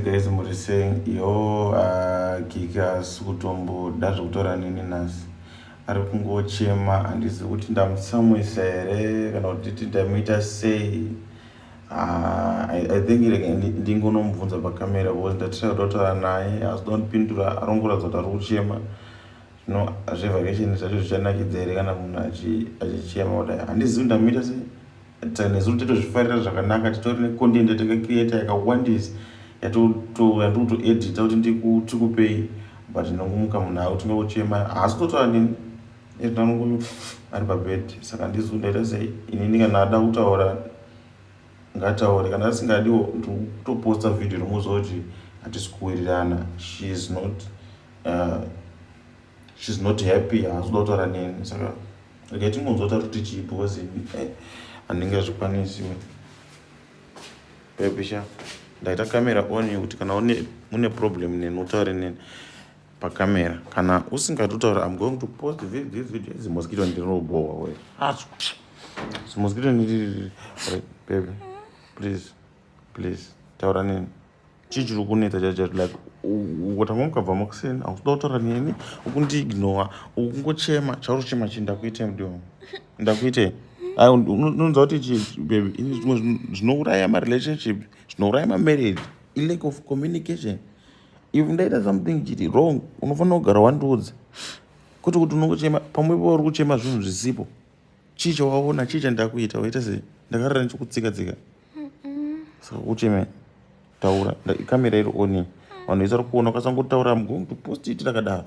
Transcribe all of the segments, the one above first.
guys muri sei yo kiki asi kutomboda zvekutaura nini nhasi ari kungochema handizi kuti ndamutsamwisa here kana kuti ti ndamuita sei ah, i think ndingonomubvunza pakamera because ndatira kuda kutaura naye asi donpindura arongoratidza kuti ari kuchema zvino zvevhakesheni zvacho zvichanakidza here kana munhu achichema kudai handizi kuti ndamuita sei nezuro titozvifarira zvakanaka titori necontent yatakacreata yakawandisa yatikutoedita kuti ndikupei but ndinongomuka munhu akuti ndokuchema haasi kutotaura nini etanongo ari pabed saka ndizo ndaita sei inini kana ada kutaura ngataure kana asingadiwo ndikutoposta vhidhio romuziva kuti hatisi kuwirirana shes not uh, shes not happy haasi kuda kutaura nini saka Rega tingonzwa tari kuti chii because eh, handinga zvikwanisiwe. Pepisha ndaita kamera on yekuti kana une mune problem neni utaure neni pakamera kana usingati utaura am going to post this this video izi mosquito ndinobowa we acho zimosquito ndiri baby please please taura neni chii chiri kunetsa chachati like ukotanga mukabva makuseni akuda kutaura neni ukundiignowa ukungochema chauri kuchema chii ndakuitei mudi wangu ndakuitei unonza kuti chii baby ini zvimwe zvinouraya marelationship zvinouraya mamarriage ilack of communication if ndaita something chiri wrong unofanira kugara wandiudza kwete kuti unongochema pamwe ipo uri kuchema zvinhu zvisipo chii chawaona chii chandakuita waita sei ndakarara ndichikutsika tsika saka kucheme taura kamera iri oni vanhu vese vari kuona ukasangotaura am going to post it rakadaro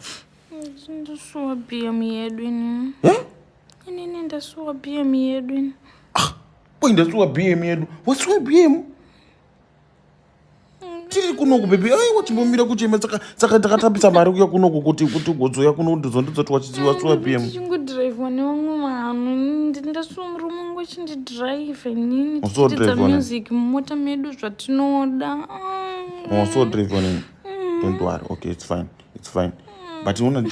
ndasuwa bm yedu ini inini ndasuwa bm yedu ini ah, ndasuwa bm yedu wasuwa bm tiri kunoku bebe aiwa chimbomira kuchema saka takatambisa mari kuya kunoku kuti kuti ugodzoya kuno ndizondidzoti wachiziva sua pm chingudhiraivha nevamwe vanhu ndasua murume wangu achindidhiraivha nini tichitidza music mumota medu zvatinoda wasodhiraivha nini don't worry okay it's fine it's fine but ona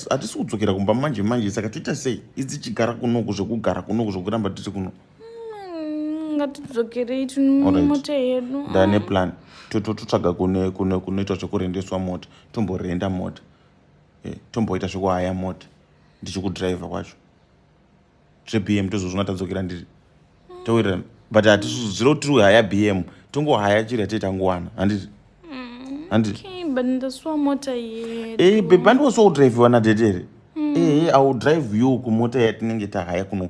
hatisi kudzokera kumba manje manje saka tiita sei idzi chigara kunoku zvekugara kunoku zvekuramba tiri kuno mm, ngatidzokerei tinomota yedu ndane plan totsvaga kune kune kunoitwa zvekurendeswa mota tomborenda mota eh, tomboita zvekuhaya mota ndichikudriver kwacho zvebm tozozvona tadzokera ndiri towirirana but hatizviro tiri kuhaya bm tongohaya chiri hatei tangowana handiti mm, handiti eh, bebi handiosoudriviwa nadedere mm. ehe eh, iwill drive you kumota yatinenge tahaya kuno